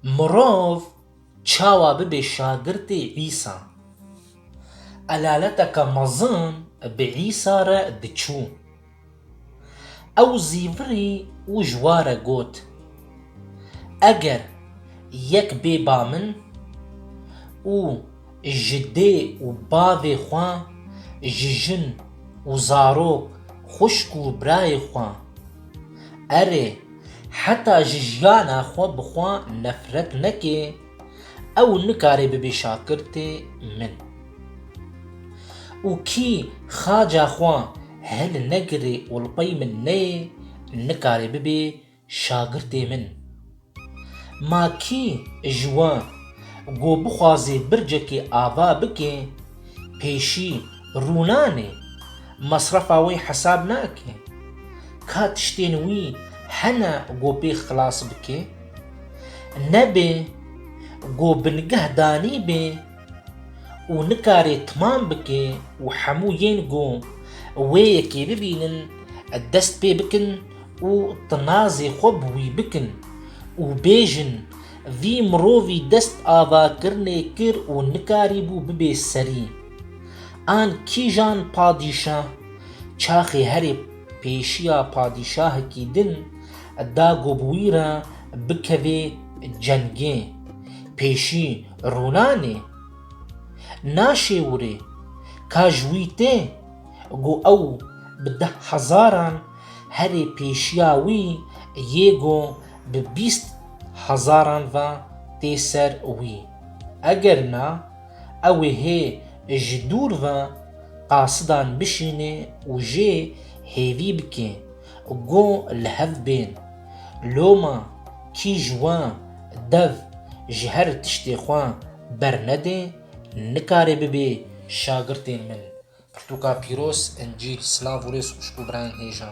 Mirov çawa bibe şagirtê Îsa? Elaleteke mezin bi Îsa re diçû. Ew zîvirî û ji wa re got, Eger yek bê ba min û Ji dê û bavê xwe, ji jin û zarok, xwişk û birayê xwe, erê, heta ji jiyana xwe bi xwe nefret nekê, ew nikare bibe şakirtê min. Û kî xaca xwe hilnegire û li pey min neyê, nikare bibe Şagirtê min. Ma kî ji wan ku bixwazê bircekê ava bike, pêşî rûnanê, mesrefa wê hesab nake? Ka tiştên wî hene ku pê xilas bike? Nebê ku bingehdanî bê û nikarê timam bike û hemû yên ku wê yekê bibînin dest pê bikin û tinazê xwe bi wî bikin û bêjin vî mirovî dest avakirinê kir û nikarîbû bibê serî. An kîjan padîşah, çaxê herê pêşiya padîşahekî din Da ku bi wî re bikevê cengê pêşî rûnanê, naşêwirê ka ji wî tê ku ew bi deh hezaran herê pêşiya wî yê ku bi bîst hezaran ve tê ser wî. Eger na, ew ê hê ji dûr ve qasidan bişînê û jê hêvî bikê Go li hev bên. Loma kî ji wan dev ji her tiştê xwe bernedê nikare bibê şagirtên min. Pirtûka pîroz, Encîl, Silav û rêz xwişk û birayên hêja.